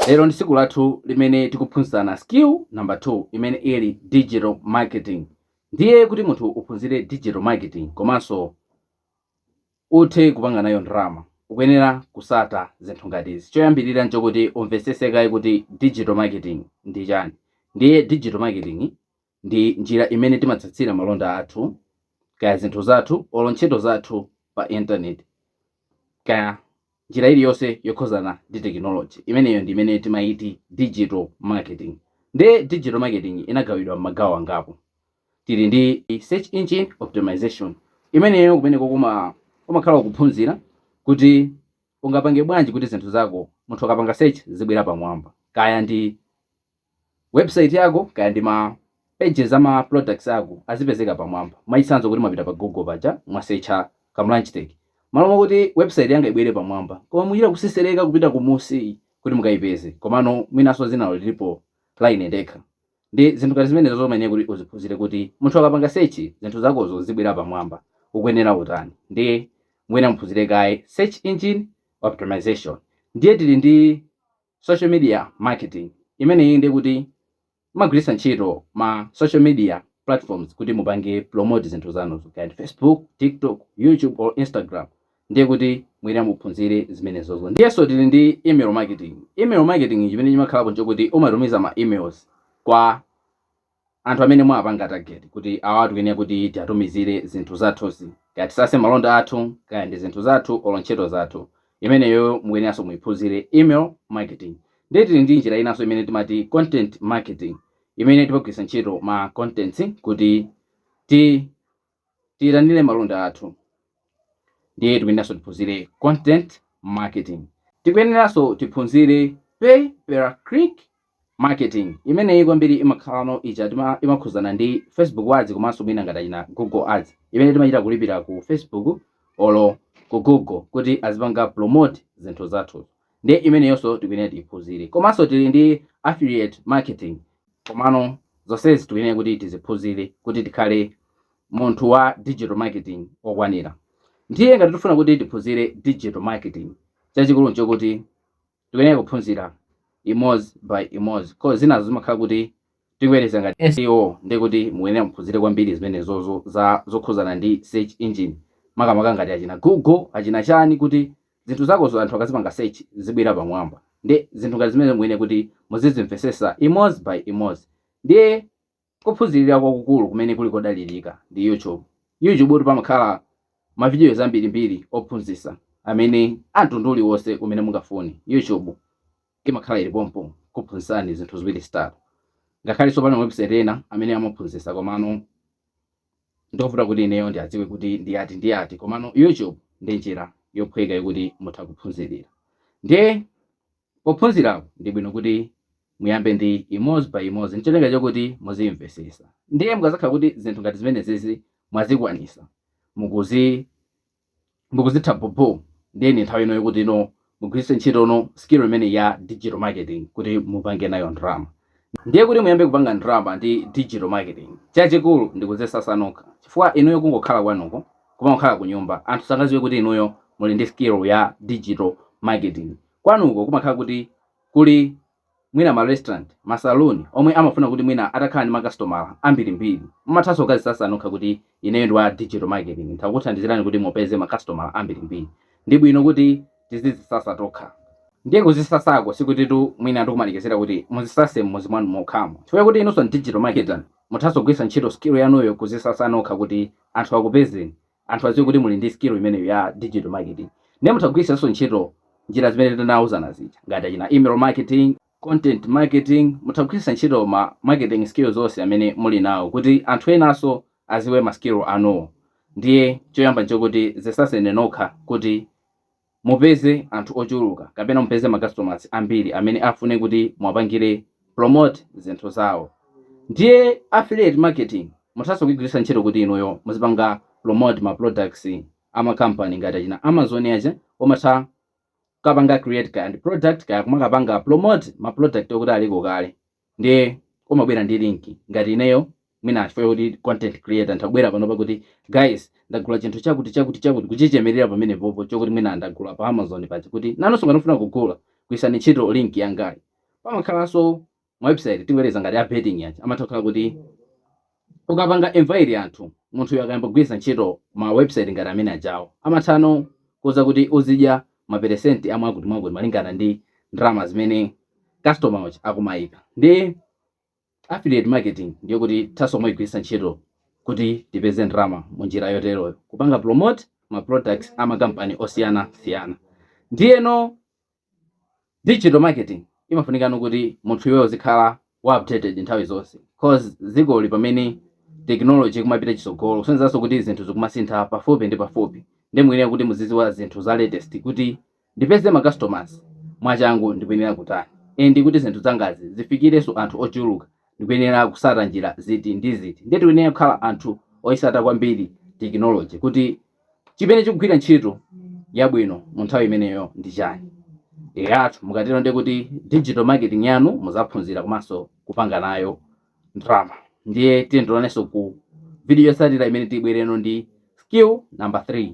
Lero ndi tsiku lathu limene tikuphunzitsana skill number 2 imene ili digital marketing. Ndiye kuti munthu uphunzire digital marketing komanso uthe kupanga nayo ndalama, ukuyenera kusata zinthu ngati izi. Choyambirira nchokuti umvetsetse kaye kuti digital marketing ndi chani. Ndiye digital marketing Ndi njira imene timatsatsira malonda athu, kaya zinthu zathu olo ntchito zathu pa internet kaya njira iliyonse yokhuzana ndi technology imeneyo ndi imene timaiti digital marketing. Nde digital marketing inagawidwa mmagawo angapo. Tili ndi search engine optimization imeneyo kumeneko kumakhala kuphunzira kuti ungapange bwanji kuti zinthu zako munthu akapanga search zizibwera pamwamba kaya ndi Website yako kaya ndi ma pages ama products ako azipezeka pamwamba. Mwachitsanzo kuti mwapita pa Google paja mwasecha Kam Lunch Tech. Malo mokuti website yanga ibwere pamwamba, koma mukuchita kutsetsereka kupita kumunsi kuti mukaipeze. Komano mwinanso dzinalo lilipo la ine ndekha. Ndi zinthu ngati zimenezozo umayenera kuti uziphunzire kuti munthu akapanga search zinthu zakozo zizibwera pamwamba. Ukuyenera utani? Ndiye mukuyenera muphunzire kaye search engine optimization. Ndiye tili ndi. social media marketing, imeneyi ndiye kuti mumagwiritsa ntchito ma social media platforms kuti mupange promote zinthu zanuzo kaya ndi Facebook, TikTok, YouTube or Instagram ndiye kuti mukuyenera muphunzire zimenezozo. Ndiyenso tili ndi email marketing, email marketing chimene chimakhalapo nchokuti umatumiza ma emails kwa. anthu amene mwawapanga target kuti awatu kene kuti tiatumizire zinthu zathuzi kaya titsatse malonda athu kaya ndi zinthu zathu olo ntchito zathu imeneyo mukuyeneranso muiphunzire email marketing ndiye tili ndi njira inanso imene timati content marketing imene timagwiritsa ntchito ma contents kuti ti Tiyitanire malonda athu ndiye tikuyeneranso tiphunzire content marketing. Tikuyeneranso tiphunzire pay per click marketing, imeneyi kwambiri imakhala ija imakhuzana ndi Facebook ads komanso mwina ngati achina Google ads imene timachita kulipira ku Facebook olo ku Google kuti azipanga promote zinthu zathuzo. ndiye imeneyonso tikuyenera tiiphunzire komanso tili ndi affiliate marketing komano zonsezi tikuyenera kuti tiziphunzire kuti tikhale munthu wa digital marketing okwanira ndiye ngati tifuna kuti tiphunzire digital marketing chachikulu nchokuti tikuyenera kuphunzira imodzi by imodzi koma zinazo zimakhala kuti tiyerekeze ngati seo nde kuti mukuyenera muphunzire kwambiri zimenezozo za zokhuzana ndi search engine makamaka ngati achina google achina chani kuti Zinthu zakozo anthu akazipanga search zizibwera pamwamba nde zinthu ngati zimenezo muyenera kuti muzizimvesesa imoz by imoz ndiye kuphunzilira kwakukulu kumene kuli kodalilika ndi YouTube, YouTube-tu pamakhala ma videos ambiri mbiri ophunzisa zinthu zamtundu uliwose umene mungafune YouTube imakhala ili pompo kukuphunzisani zinthu ziwiri zitatu ngakhaleso pali ma website ena amene amaphunzisa komano. Ndovuta kuti ineyo ndiadziwe kuti ndi ati ndi ati komano YouTube ndi njira yophweka yokuti mutha kuphunzilira ndiye pophunzirapo ndi bwino kuti muyambe ndi imoz by imoz ncholinga chokuti muzimvesesa ndiye mukazakhala kuti zinthu ngati zimenezizi mwazikwanisa mukuzi mukuzitha bhobho ndiye ndi nthawi ino yokuti no mugwiritse ntchito no skill imeneyi ya digital marketing kuti mupange nayo ndalama ndiye kuti muyambe kupanga ndalama ndi digital marketing chachikulu ndi kuzisatsa nokha chifukwa inuyo kungokhala kwanuko kumangokhala kunyumba anthu sangaziwe kuti inuyo muli ndi skill ya digital marketing kwanuko kumakhala kuti kuli mwina ma restaurant, ma saloon omwe amafuna kuti mwina atakhala ndi makasitomala ambirimbiri. Mumathanso kukazisatsa nokha kuti ineyo ndi wa digital marketing nditha kukuthandizirani kuti mupeze makasitomala ambirimbiri. Ndi bwino kuti tizizisatsa tokha. Ndiye kuzisatsako sikutitu mwina ndikumalekezera kuti muzisatse m'mudzi mwanu mokhamo. Chifukwa choti inunso ndi digital marketer, muthanso kugwiritsa ntchito skill yanuyo kuzisatsa nokha kuti anthu akupezeni. anthu adziwe kuti muli ndi skill imeneyo ya digital marketing ndiye mutha kugwiritsanso ntchito njira zimene tinauzana zija ngati achina email marketing content marketing mutha kugwiritsa ntchito ma marketing skills onse amene muli nawo kuti anthu enanso aziwe ma skill anuwo ndiye choyamba nchokuti zisatseni nokha kuti mupeze anthu ochuluka kapena mupeze ma customers ambiri amene afune kuti muwapangire promote zinthu zawo ndiye affiliate marketing muthaso kuigwiritsa ntchito kuti inuyo muzipanga promote ma products ama company ngati achina Amazon aja umatha kukapanga create kaya ndi product kaya kumakapanga promote ma product akuti aliko kale Ndiye umabwera ndi link ngati ineyo mwina chifukwa chakuti ndi content creator ntha kubwera panopa kuti guys ndagula chinthu chakuti chakuti chakuti kuchichemerera pamenepopo chokuti mwina ndagula pa Amazon paja kuti nanunso ngati mufuna kugula gwiritsani ntchito link yangayi. Pamakhalanso ma website tiyerekeze ngati a betting aja amatha kukhala kuti Ukapanga invite anthu, munthuyo akayamba kugwiritsa ntchito ma website ngati amene ajawo, amathano kukuuza kuti uzidya ma peresenti a mwakuti mwakuti malingana ndi ndalama zimene customer uja akumaika. Ndiye affiliate marketing ndi yokuti tithanso kumaigwiritsa ntchito kuti tipeze ndalama mu njira yoteroyo, kupanga promote ma products a ma kampani osiyana siyana. Ndiyeno. Digital marketing imafunikano kuti munthu iweyo uzikhala wa updated nthawi zonse cause dzikoli pamene technology ikumapita chitsogolo kusonyezanso kuti zinthu zikumasintha pafupi ndi pafupi ndi muyenera kuti muzidziwa zinthu za latest kuti ndipeze macustomers mwachangu ndikuyenera kutani and kuti zinthu zangazi zifikirenso anthu ochuluka ndikuyenera kusata njira ziti ndi ziti ndiye tikuyenera kukhala anthu oyisata kwambiri technology kuti chimene chikugwira ntchito yabwino mu nthawi imeneyo ndi chani eyatu mukatero ndiye kuti digital marketing yanu muzaphunzira komanso kupanga nayo ndalama ndiye tionanenso ku video yotsatira imene tibwerenso ndi skill number 3